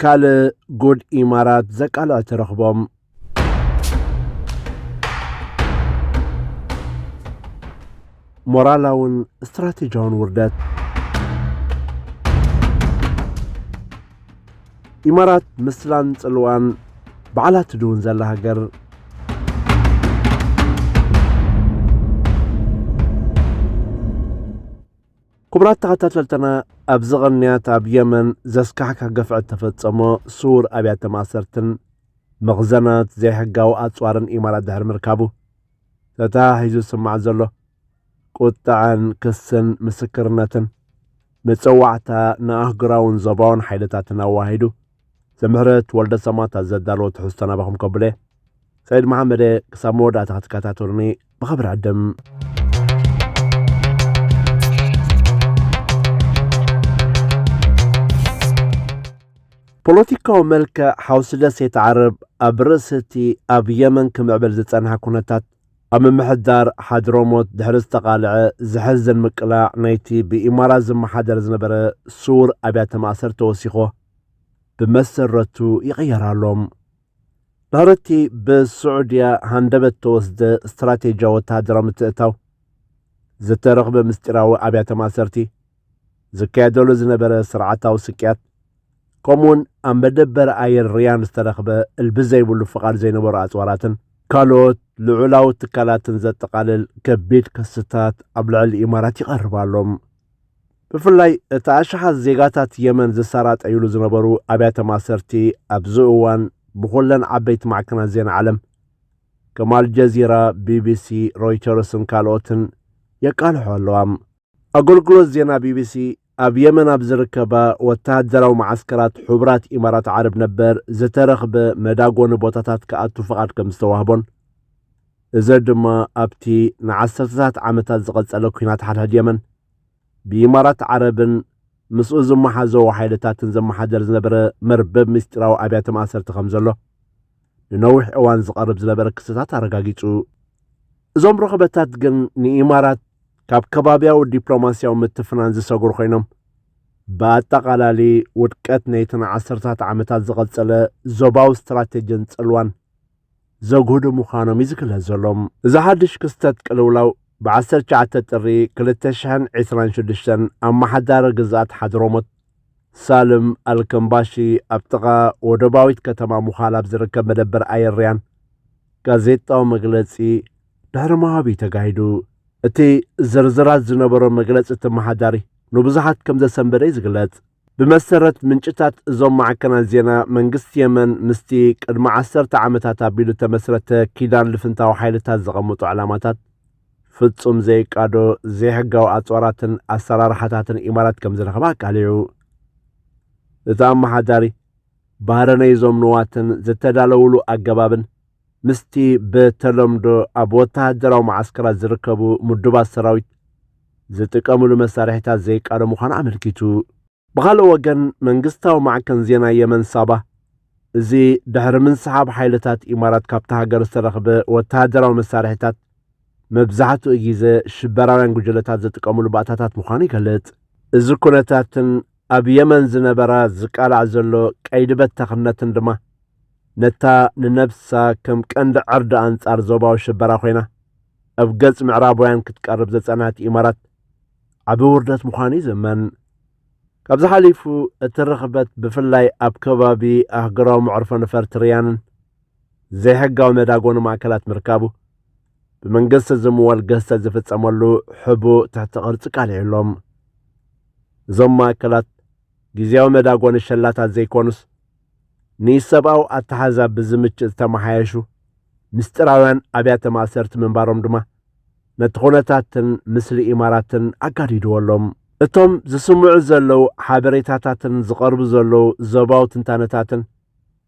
ካልእ ጉድ ኢማራት ዘቃልዐ ተረኽቦም። ሞራላውን ስትራቴጂያውን ውርደት ኢማራት ምስላን ጽልዋን በዓላ ትድውን ዘላ ሃገር ክቡራት ተኸታተልትና ኣብዚ ቐንያት ኣብ የመን ዘስካሕካ ገፍዐት ተፈጸሞ ስውር ኣብያተ ማእሰርትን መኽዘናት ዘይሕጋዊ ኣጽዋርን ኢማራት ድሕሪ ምርካቡ ተተሓሒዙ ዝስማዕ ዘሎ ቁጥዐን ክስን ምስክርነትን መጸዋዕታ ንኣህግራውን ዞባውን ሓይልታትን ኣዋሂዱ ዘምህረት ወልደ ሰማት ኣዘዳለዎ ትሕዝቶ ናባኹም ከብለ ሰይድ መሓመደ ክሳብ መወዳእታ ክትከታተሉኒ ብኸብሪ ዕድም ፖለቲካዊ መልክዕ ሓውሲ ደሴት ዓረብ ኣብ ርእሲ እቲ ኣብ የመን ክምዕብል ዝጸንሐ ኩነታት ኣብ ምምሕዳር ሓድሮሞት ድሕሪ ዝተቓልዐ ዘሕዝን ምቅላዕ ናይቲ ብኢማራት ዝመሓደር ዝነበረ ስውር ኣብያተ ማእሰር ተወሲኾ ብመሰረቱ ይቕየር ኣሎ። ድሕርቲ ብስዑድያ ሃንደበት ተወስደ ስትራቴጂያ ወተሃደራዊ ምትእታው ዝተረኽበ ምስጢራዊ ኣብያተ ማእሰርቲ ዝካየደሉ ዝነበረ ስርዓታዊ ስቅያት ከምኡውን ኣብ መደበር ኣየር ሪያን ዝተረኽበ እልቢ ዘይብሉ ፍቓድ ዘይነበሮ ኣጽዋራትን ካልኦት ልዑላዊ ትካላትን ዘጠቓልል ከቢድ ክስታት ኣብ ልዕሊ ኢማራት ይቐርብ ኣሎ። ብፍላይ እቲ ኣሽሓት ዜጋታት የመን ዝሰራጠይሉ ዝነበሩ ኣብያተ ማሰርቲ ኣብዚ እዋን ብኹለን ዓበይቲ ማዕከናት ዜና ዓለም ከም ኣልጀዚራ፣ ቢቢሲ፣ ሮይተርስን ካልኦትን የቃልሖ ኣለዋ። ኣገልግሎት ዜና ቢቢሲ ኣብ የመን ኣብ ዝርከባ ወተሃደራዊ መዓስከራት ሕቡራት ኢማራት ዓረብ ነበር ዝተረኽበ መዳጎኒ ቦታታት ክኣቱ ፍቓድ ከም ዝተዋህቦን እዚ ድማ ኣብቲ ንዓሰርተታት ዓመታት ዝቐጸለ ኲናት ሓድሕድ የመን ብኢማራት ዓረብን ምስኡ ዝመሓዘዎ ሓይልታትን ዘመሓደር ዝነበረ መርበብ ምስጢራዊ ኣብያተ ማእሰርቲ ከም ዘሎ ንነዊሕ እዋን ዝቐርብ ዝነበረ ክስታት ኣረጋጊጹ እዞም ርኽበታት ግን ንኢማራት ካብ ከባብያዊ ዲፕሎማስያዊ ምትፍናን ዝሰግሩ ኮይኖም ብኣጠቓላሊ ውድቀት ነይቲ ንዓሰርታት ዓመታት ዝቐጸለ ዞባዊ ስትራቴጂን ጽልዋን ዘግህዱ ምዃኖም እዩ ዝግለጽ ዘሎ። እዚ ሓድሽ ክስተት ቅልውላው ብ19 ጥሪ 2026 ኣመሓዳሪ ግዝኣት ሓድሮሞት ሳልም ኣልከምባሺ ኣብ ጥቓ ወደባዊት ከተማ ሙኻል ኣብ ዝርከብ መደበር ኣየር ሪያን ጋዜጣዊ መግለጺ ድሕሪ ምሃብ'ዩ ተጋሂዱ። እቲ ዝርዝራት ዝነበሮ መግለጺ ተመሓዳሪ ንብዙሓት ከምዘሰንበደ'ዩ ዝግለጽ። ብመሰረት ምንጭታት እዞም ማዕከናት ዜና፣ መንግስቲ የመን ምስቲ ቅድሚ ዓሰርተ ዓመታት ኣቢሉ እተመስረተ ኪዳን ልፍንታዊ ሓይልታት ዘቐምጦ ዕላማታት ፍጹም ዘይቃዶ ዘይሕጋዊ ኣጽዋራትን ኣሰራርሓታትን ኢማራት ከምዝረኸበ ኣቃሊዑ። እቲ ኣመሓዳሪ፣ ባህረነይ'ዞም ንዋትን ዝተዳለዉሉ ኣገባብን፣ ምስቲ ብተለምዶ ኣብ ወተሃደራዊ መዓስከራት ዝርከቡ ምዱባት ሰራዊት ዝጥቀምሉ መሳርሒታት ዘይቃዶ ምዃኑ ኣመልኪቱ። ብኻልእ ወገን መንግስታዊ ማዕከን ዜና የመን ሳባ፣ እዚ ድሕሪ ምንስሓብ ሓይልታት ኢማራት ካብታ ሃገር ዝተረኽበ ወተሃደራዊ መሳርሒታት መብዛሕትኡ ግዘ ሽበራውያን ጉጅለታት ዝጥቀምሉ ባእታታት ምዃኑ ይገልጽ። እዚ ኩነታትን ኣብ የመን ዝነበራ ዝቃላዕ ዘሎ ቀይዲ በታኽነትን ድማ ነታ ንነብሳ ከም ቀንዲ ዕርዲ ኣንጻር ዞባዊ ሽበራ ኮይና ኣብ ገጽ ምዕራባውያን ክትቀርብ ዘጸንሐት ኢማራት ዓቢ ውርደት ምዃኑ እዩ ዝእመን። ካብዚ ሓሊፉ እቲ ርኽበት ብፍላይ ኣብ ከባቢ ኣህጉራዊ መዕርፎ ነፈርቲ ሪያንን ዘይሕጋዊ መዳጎኒ ማእከላት ምርካቡ ብመንግስቲ ዝምወል ገዝተ ዝፍጸመሉ ሕቡ ትሕቲ ቅርጺ ቃሊዑ ኣሎም እዞም ማእከላት ግዜያዊ መዳጎኒ ሸላታት ዘይኮኑስ ንሰብኣዊ ኣተሓሕዛ ብዝምችእ ዝተመሓየሹ ምስጢራውያን ኣብያተ ማእሰርቲ ምንባሮም ድማ ነቲ ኩነታትን ምስሊ ኢማራትን ኣጋዲድዎ ኣሎ። እቶም ዝስምዑ ዘለዉ ሓበሬታታትን ዝቐርቡ ዘለዉ ዞባዊ ትንታነታትን፣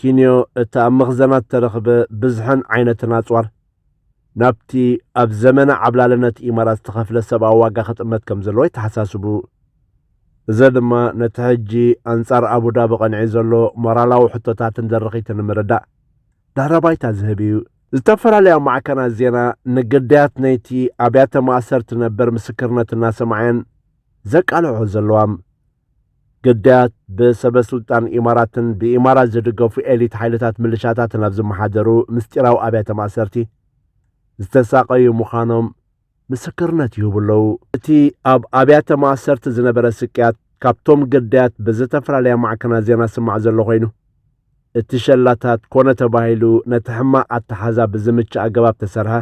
ኪንዮ እቲ ኣብ መኽዘናት እተረኽበ ብዝሕን ዓይነትን ኣጽዋር፣ ናብቲ ኣብ ዘመነ ዓብላልነት ኢማራት ዝተኸፍለ ሰብኣዊ ዋጋ ክጥመት ከም ዘለዎ የተሓሳስቡ። እዘ ድማ ነቲ ሕጂ ኣንጻር ኣቡዳቢ ቀንዒ ዘሎ ሞራላዊ ሕቶታትን ድርኺትን ንምርዳእ ድሕረ ባይታ ዝህብ እዩ። ዝተፈላለያ ማዕከናት ዜና ንግዳያት ነይቲ ኣብያተ ማእሰርቲ ነበር ምስክርነት እናሰምዓ'የን ዘቃልሕኦ ዘለዋም። ግዳያት ብሰበ ስልጣን ኢማራትን ብኢማራት ዝድገፉ ኤሊት ሓይልታት ምልሻታትን ኣብ ዝመሓደሩ ምስጢራዊ ኣብያተ ማእሰርቲ ዝተሳቐዩ ምዃኖም ምስክርነት ይህቡ ኣለዉ። እቲ ኣብ ኣብያተ ማእሰርቲ ዝነበረ ስቅያት ካብቶም ግዳያት ብዝተፈላለያ ማዕከናት ዜና ዝስማዕ ዘሎ ኮይኑ፣ እቲ ሸላታት ኮነ ተባሂሉ ነቲ ሕማቕ ኣተሓሕዛ ብዝምችእ ኣገባብ ተሰርሐ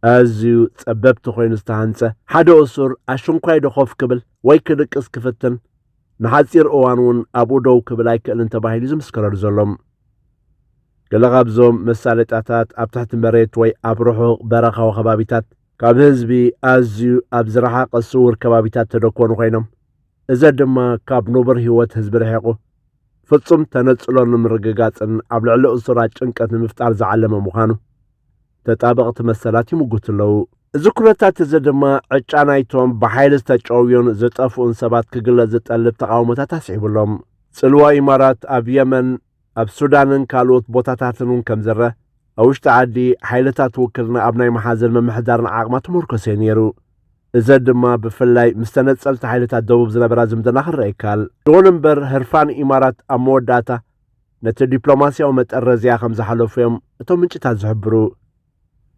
ኣዝዩ ጸበብቲ ኮይኑ ዝተሃንጸ፣ ሓደ እሱር ኣሽንኳይዶ ኮፍ ክብል ወይ ክድቅስ ክፍትን፣ ንሓጺር እዋን እውን ኣብኡ ደው ክብል ኣይክእልን ተባሂሉ'ዩ ዝምስከረሉ ዘሎ። ገለ ካብዞም መሳለጥያታት ኣብ ትሕቲ መሬት ወይ ኣብ ርሑቕ በረኻዊ ከባቢታት፣ ካብ ህዝቢ ኣዝዩ ኣብ ዝረሓቐ ስዉር ከባቢታት ተደኮኑ ኮይኖም፣ እዘ ድማ ካብ ንቡር ህይወት ህዝቢ ርሒቑ፣ ፍጹም ተነጽሎ ንምርግጋጽን ኣብ ልዕሊ እሱራት ጭንቀት ንምፍጣር ዝዓለመ ምዃኑ ተጣበቕቲ መሰላት ይምጉቱ ኣለዉ። እዚ ኩነታት እዚ ድማ ዕጫ ናይቶም ብሓይሊ ዝተጨውዩን ዝጠፍኡን ሰባት ክግለጽ ዝጠልብ ተቓውሞታት ኣስዒቡ ኣሎ። ጽልዋ ኢማራት ኣብ የመን፣ ኣብ ሱዳንን ካልኦት ቦታታትን እውን ከም ዝረኣ፣ ኣብ ውሽጢ ዓዲ ሓይልታት ውክልና ኣብ ናይ ምሓዝን ምምሕዳርን ዓቕማ ተመርኮሰ እዩ ነይሩ። እዘ ድማ ብፍላይ ምስ ተነጸልቲ ሓይልታት ደቡብ ዝነበራ ዝምድና ክረኣ ይከኣል። ይኹን እምበር ህርፋን ኢማራት ኣብ መወዳእታ ነቲ ዲፕሎማስያዊ መጠረዝያ ከም ዝሓለፉ እዮም እቶም ምንጭታት ዝሕብሩ።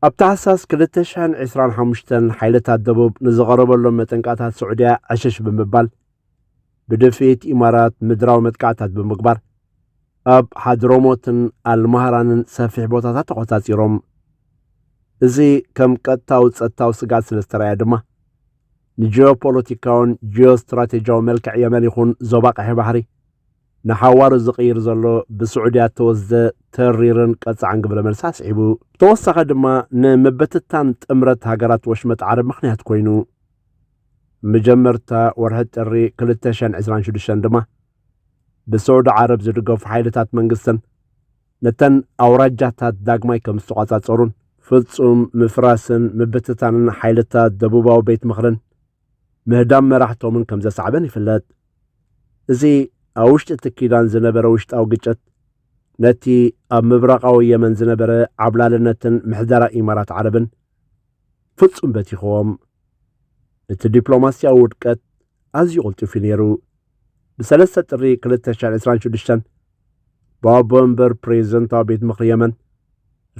ኣብ ታሕሳስ 2025 ሓይልታት ደቡብ ንዝቐረበሎም መጠንቀቕታት ስዑድያ ዕሽሽ ብምባል ብድፍኢት ኢማራት ምድራዊ መጥቃዕታት ብምግባር ኣብ ሓድሮሞትን ኣልማህራንን ሰፊሕ ቦታታት ተቖጻጺሮም እዚ ከም ቀጥታዊ ጸጥታዊ ስጋት ስለ ዝተረኣየ ድማ ንጂኦፖለቲካውን ጂኦስትራቴጂያዊ መልክዕ የመን ይኹን ዞባ ቀሒ ባሕሪ ንሓዋሩ ዝቕይር ዘሎ ብስዑድያ እተወስደ ተሪርን ቀጻዕን ግብረ መልሲ ኣስዒቡ፣ ብተወሳኸ ድማ ንምብትታን ጥምረት ሃገራት ወሽመጥ ዓረብ ምኽንያት ኮይኑ። ምጀመርታ ወርሒ ጥሪ ክልተ ሽሕን ዕስራን ሽዱሽተን ድማ ብስዑዲ ዓረብ ዝድገፉ ሓይልታት መንግስትን ነተን ኣውራጃታት ዳግማይ ከም ዝተቋጻጸሩን ፍጹም ምፍራስን ምብትታንን ሓይልታት ደቡባዊ ቤት ምኽርን ምህዳም መራሕቶምን ከም ዘሳዕበን ይፍለጥ። እዚ ኣብ ውሽጢ እቲ ኪዳን ዝነበረ ውሽጣዊ ግጭት፣ ነቲ ኣብ ምብራቓዊ የመን ዝነበረ ዓብላልነትን ምሕደራ ኢማራት ዓረብን ፍጹም በቲኽዎም። እቲ ዲፕሎማስያዊ ውድቀት ኣዝዩ ቅልጡፍ እዩ ነይሩ። ብሰለስተ ጥሪ ክልተ ሽሕን ዕስራን ሽዱሽተን፣ ብኣቦ-መንበር ፕሬዝደንታዊ ቤት ምኽሪ የመን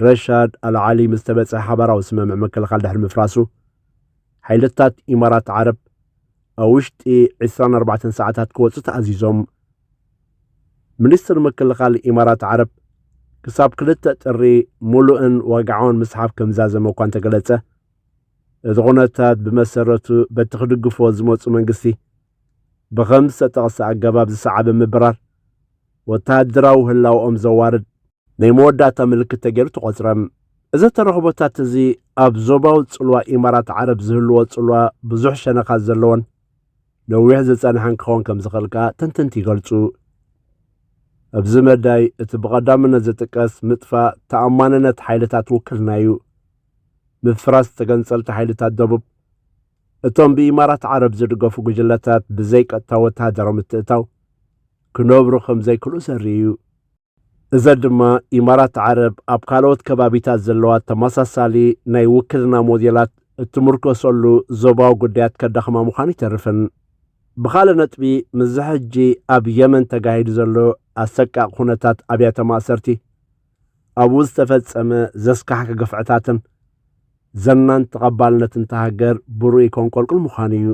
ረሻድ ኣል-ዓሊ ምስ ተበጽሐ ሓባራዊ ስምምዕ ምክልኻል ድሕሪ ምፍራሱ፣ ሓይልታት ኢማራት ዓረብ ኣብ ውሽጢ ዕስራን ኣርባዕተን ሰዓታት ክወፁ ተኣዚዞም። ሚኒስትሪ ምክልኻል ኢማራት ዓረብ ክሳብ ክልተ ጥሪ ሙሉእን ዋግዓውን ምስሓብ ከምዛዘመ እኳ እንተገለፀ እቲ ኩነታት ብመሰረቱ በቲ ክድግፎ ዝመፁ መንግስቲ ብኸም ዝተጠቕሰ ኣገባብ ዝሰዓበ ምብራር ወተሃደራዊ ህላወኦም ዘዋርድ ናይ መወዳእታ ምልክት ተገይሩ ተቖጽረ። እዚ ተረኽቦታት እዚ ኣብ ዞባዊ ጽልዋ ኢማራት ዓረብ ዝህልዎ ጽልዋ ብዙሕ ሸነኻት ዘለዎን ነዊሕ ዝጸንሐን ክኸውን ከም ዝኽእል ከኣ ተንተንቲ ይገልጹ። ኣብዚ መዳይ እቲ ብቐዳምነት ዝጥቀስ ምጥፋእ ተኣማንነት ሓይልታት ውክልና እዩ። ምፍራስ ተገንጸልቲ ሓይልታት ደቡብ እቶም ብኢማራት ዓረብ ዝድገፉ ጉጅለታት ብዘይቀጥታ ወተሃደራዊ ምትእታው ክነብሩ ከም ዘይክእሉ ዘርኢ እዩ። እዘ ድማ ኢማራት ዓረብ ኣብ ካልኦት ከባቢታት ዘለዋ ተመሳሳሊ ናይ ውክልና ሞዴላት እትምርኮሰሉ ዞባዊ ጉዳያት ከዳኽማ ምዃኑ ኣይተርፍን። ብኻልእ ነጥቢ ምስዚ ሕጂ ኣብ የመን ተጋሂዱ ዘሎ ኣሰቃቂ ኩነታት ኣብያተ ማእሰርቲ ኣብኡ ዝተፈጸመ ዘስካሕኪ ግፍዕታትን ዘናን ተቐባልነት እንተ ሃገር ብርኡይ ኮንቆልቁል ምዃኑ እዩ።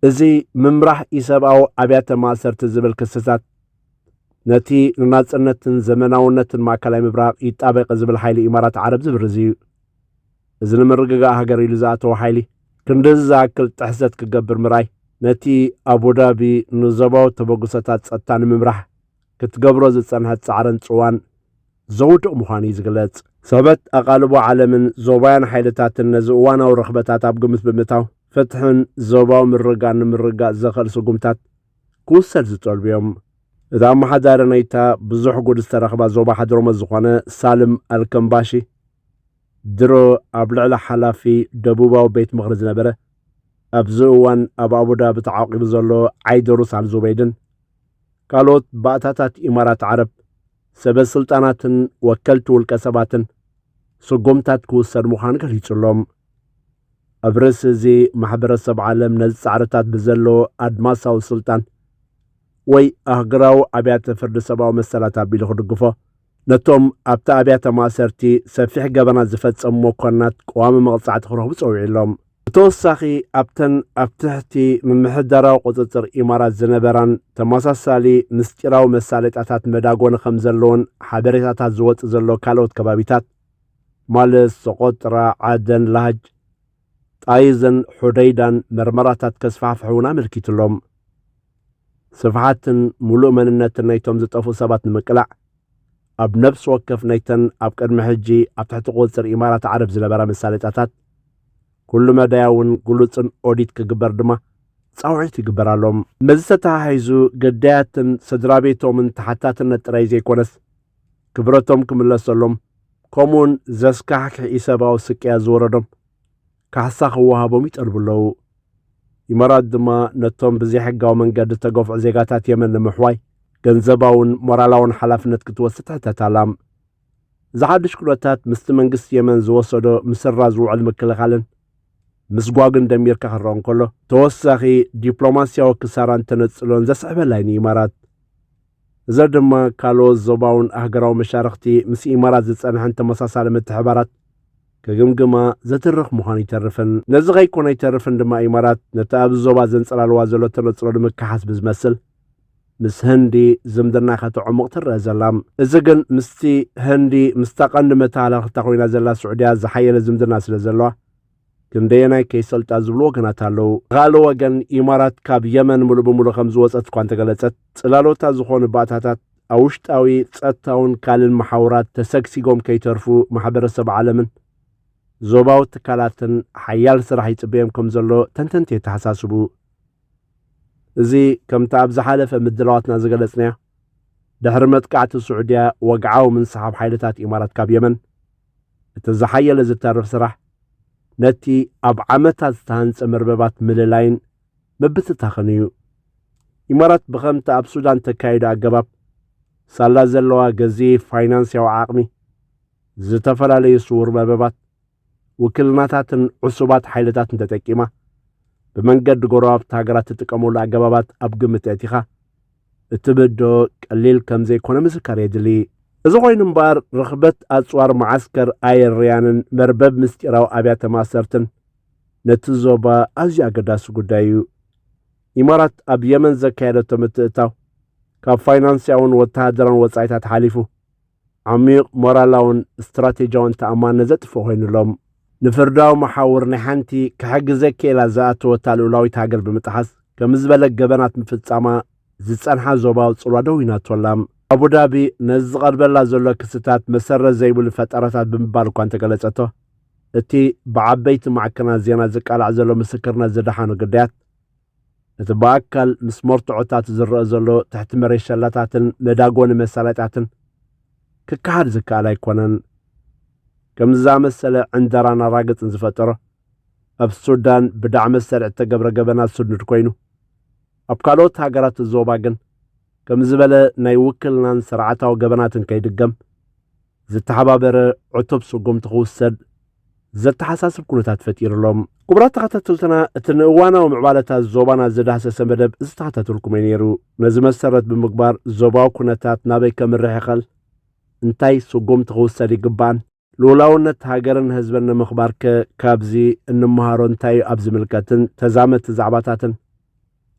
እዚ ምምራሕ ኢሰብኣዊ ኣብያተ ማእሰርቲ ዝብል ክስታት ነቲ ንናጽነትን ዘመናውነትን ማእከላይ ምብራቕ ይጣበቀ ዝብል ሓይሊ ኢማራት ዓረብ ዝብርዝ እዩ። እዚ ንምርግጋእ ሃገር ኢሉ ዝኣተወ ሓይሊ ክንድዚ ዝኣክል ጥሕሰት ክገብር ምርኣይ፣ ነቲ ኣቡዳቢ ንዞባዊ ተበግሶታት ጸጥታ ንምምራሕ ክትገብሮ ዝጸንሐት ጻዕርን ጽዋን ዘውድቕ ምዃኑ እዩ ዝግለጽ። ሰበት ኣቓልቦ ዓለምን ዞባውያን ሓይልታትን ነዚ እዋናዊ ርኽበታት ኣብ ግምት ብምእታው፣ ፍትሕን ዞባዊ ምርግጋእን ንምርግጋጽ ዘኽእል ስጉምታት ክውሰድ ዝጠልቡ እዮም። እቲ ኣመሓዳሪ ናይታ ብዙሕ ጉድ ዝተረኽባ ዞባ ሓድሮመት ዝኾነ ሳልም ኣልከምባሺ፣ ድሮ ኣብ ልዕሊ ሓላፊ ደቡባዊ ቤት ምኽሪ ዝነበረ፣ ኣብዚ እዋን ኣብ ኣቡዳቢ ተዓቚቡ ዘሎ ዓይደሩስ ኣልዙበይድን ካልኦት ባእታታት ኢማራት ዓረብ ሰበ ስልጣናትን ወከልቲ ውልቀ ሰባትን ስጉምታት ክውሰድ ምዃኑ ገሊጹሎም። ኣብ ርእሲ እዚ ማሕበረሰብ ዓለም ነዚ ጻዕርታት ብዘለዎ ኣድማሳዊ ስልጣን ወይ ኣህግራዊ ኣብያተ ፍርዲ ሰብኣዊ መሰላት ኣቢሉ ክድግፎ፣ ነቶም ኣብቲ ኣብያተ ማእሰርቲ ሰፊሕ ገበናት ዝፈጸሙ መኮንናት ቀዋሚ መቕጻዕቲ ክረኽቡ ጸዊዑ ኣሎም። ብተወሳኺ ኣብተን ኣብ ትሕቲ ምምሕዳራዊ ቁጽጽር ኢማራት ዝነበራን ተመሳሳሊ ምስጢራዊ መሳለጥያታት መዳጎኒ ከምዘለዎን ሓበሬታታት ዝወጽእ ዘሎ ካልኦት ከባቢታት፣ ማለት ሰቆጥራ፣ ዓደን፣ ላጅ፣ ጣይዝን ሑደይዳን መርመራታት ከስፋሕፍሑ እውን ኣመልኪቱ'ሎ። ስፍሓትን ሙሉእ መንነትን ናይቶም ዝጠፍኡ ሰባት ንምቅላዕ ኣብ ነብሲ ወከፍ ናይተን ኣብ ቅድሚ ሕጂ ኣብ ትሕቲ ቁፅፅር ኢማራት ዓረብ ዝነበራ መሳለጥያታት ኩሉ መዳያውን ግሉፅን ኦዲት ክግበር ድማ ፃውዒት ይግበር ኣሎ። ምስዚ ተተሓሒዙ ግዳያትን ስድራቤቶምን ተሓታትነት ጥራይ ዘይኮነስ ክብረቶም ክምለሰሎም ከምኡውን ዘስካሕክሕ ኢሰብኣዊ ስቅያት ዝወረዶም ካሕሳ ክወሃቦም ይጠልቡ ኣለዉ። ኢማራት ድማ ነቶም ብዘይሕጋዊ መንገዲ ዝተገፍዑ ዜጋታት የመን ንምሕዋይ ገንዘባውን ሞራላውን ሓላፍነት ክትወስድ ትሕተት ኣላ። እዚ ሓድሽ ኩነታት ምስቲ መንግስቲ የመን ዝወሰዶ ምስራ ዝውዕል ምክልኻልን ምስጓግን ደሚርካ ክረኦ እንከሎ ተወሳኺ ዲፕሎማስያዊ ክሳራን ተነጽሎን ዘስዕበላዩ ንኢማራት እዘ ድማ ካልኦት ዞባውን ኣህገራዊ መሻርኽቲ ምስ ኢማራት ዝጸንሐን ተመሳሳሊ ምትሕባራት ክግምግማ ዘትርኽ ምዃኑ ኣይተርፍን። ነዚ ከይኮነ ኣይተርፍን ድማ ኢማራት ነቲ ኣብዚ ዞባ ዘንጸላልዋ ዘሎ ተነጽሎ ንምክሓስ ብዝመስል ምስ ህንዲ ዝምድና ከተዕሙቕ ትረኣ ዘላ። እዚ ግን ምስቲ ህንዲ ምስታ ቀንዲ መተሃላልኽታ ኮይና ዘላ ስዑድያ ዝሓየለ ዝምድና ስለዘለዋ፣ ክንደየናይ ከይሰልጣ ዝብሉ ወገናት ኣለዉ። ብኻልእ ወገን ኢማራት ካብ የመን ሙሉእ ብሙሉእ ከም ዝወፀት እኳ እንተገለፀት ፅላሎታ ዝኾኑ ባእታታት ኣብ ውሽጣዊ ፀጥታውን ካልእን መሓውራት ተሰግሲጎም ከይተርፉ ማሕበረሰብ ዓለምን ዞባዊ ትካላትን ሓያል ስራሕ ይፅበዮም ከም ዘሎ ተንተንቲ የተሓሳስቡ። እዚ ከምቲ ኣብ ዝሓለፈ ምድላዋትና ዝገለፅናዮ ድሕሪ መጥቃዕቲ ስዑድያ ወግዓዊ ምንስሓብ ሓይልታት ኢማራት ካብ የመን እቲ ዝሓየለ ዝተርፍ ስራሕ ነቲ ኣብ ዓመታት ዝተሃንጸ መርበባት ምልላይን ምብትታኽን እዩ። ኢማራት ብኸምቲ ኣብ ሱዳን ተካይዶ ኣገባብ ሳላ ዘለዋ ገዚፍ ፋይናንስያዊ ዓቕሚ ዝተፈላለዩ ስውር መርበባት ውክልናታትን ዕሱባት ሓይልታትን ተጠቂማ ብመንገዲ ጎረባብቲ ሃገራት ትጥቀመሉ ኣገባባት ኣብ ግምት ኣእቲኻ እትብዶ ቀሊል ከምዘይኮነ ምስካር የድሊ። እዚ ኮይኑ እምበኣር ርኽበት ኣጽዋር መዓስከር ኣየርያንን መርበብ ምስጢራዊ ኣብያተ ማእሰርትን ነቲ ዞባ ኣዝዩ ኣገዳሲ ጉዳይ እዩ። ኢማራት ኣብ የመን ዘካየደቶ ምትእትታው ካብ ፋይናንስያውን ወተሃደራውን ወጻኢታት ሓሊፉ፣ ዓሚዩቕ ሞራላውን ስትራቴጂያውን ተኣማንነት ዘጥፍእ ኮይኑሎም ንፍርዳዊ መሓውር ናይ ሓንቲ ክሕግዘ ክኢላ ዝኣተወታ ልኡላዊት ሃገር ብምጥሓስ ከምዚ ዝበለ ገበናት ምፍጻማ ዝጸንሓ ዞባዊ ጽልዋ ደዊናቶላ። ኣቡዳቢ ነዚ ዝቐርበላ ዘሎ ክስታት መሰረት ዘይብሉ ፈጠራታት ብምባል እኳ እንተገለጸቶ እቲ ብዓበይቲ ማዕከናት ዜና ዝቃላዕ ዘሎ ምስክርነት ዝደሓኑ ግዳያት እቲ ብኣካል ምስ መርትዖታት ዝረኣ ዘሎ ትሕቲ መሬት ሸላታትን መዳጎኒ መሳለጥያትን ክከሓድ ዝከኣል ኣይኮነን። ከምዚ ዝኣመሰለ ዕንደራን ኣራግጽን ዝፈጠሮ ኣብ ሱዳን ብዳዕ መሰል እተገብረ ገበናት ስኑድ ኮይኑ ኣብ ካልኦት ሃገራት ዞባ ግን ከም ዝበለ ናይ ውክልናን ስርዓታዊ ገበናትን ከይድገም ዝተሓባበረ ዕቱብ ስጉምቲ ክውሰድ ዘተሓሳስብ ኩነታት ፈጢሩ ኣሎ። ክቡራት ተኸታተልትና እቲ ንእዋናዊ ምዕባለታት ዞባና ዝዳህሰሰ መደብ ዝተኸታተልኩምዮ ነይሩ። ነዚ መሰረት ብምግባር ዞባዊ ኩነታት ናበይ ከምርሕ ይኸል፣ እንታይ ስጉምቲ ክውሰድ ይግባእን፣ ልኡላውነት ሃገርን ህዝብን ንምኽባር ከ ካብዚ እንመሃሮ እንታይዩ ኣብ ዝምልከትን ተዛመድቲ ዛዕባታትን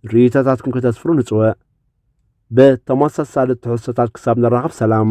ርእይቶታትኩም ከተስፍሩ ንጽውዕ። ብተመሳሳሊ ትሕዝቶታት ክሳብ ንራኸብ ሰላም።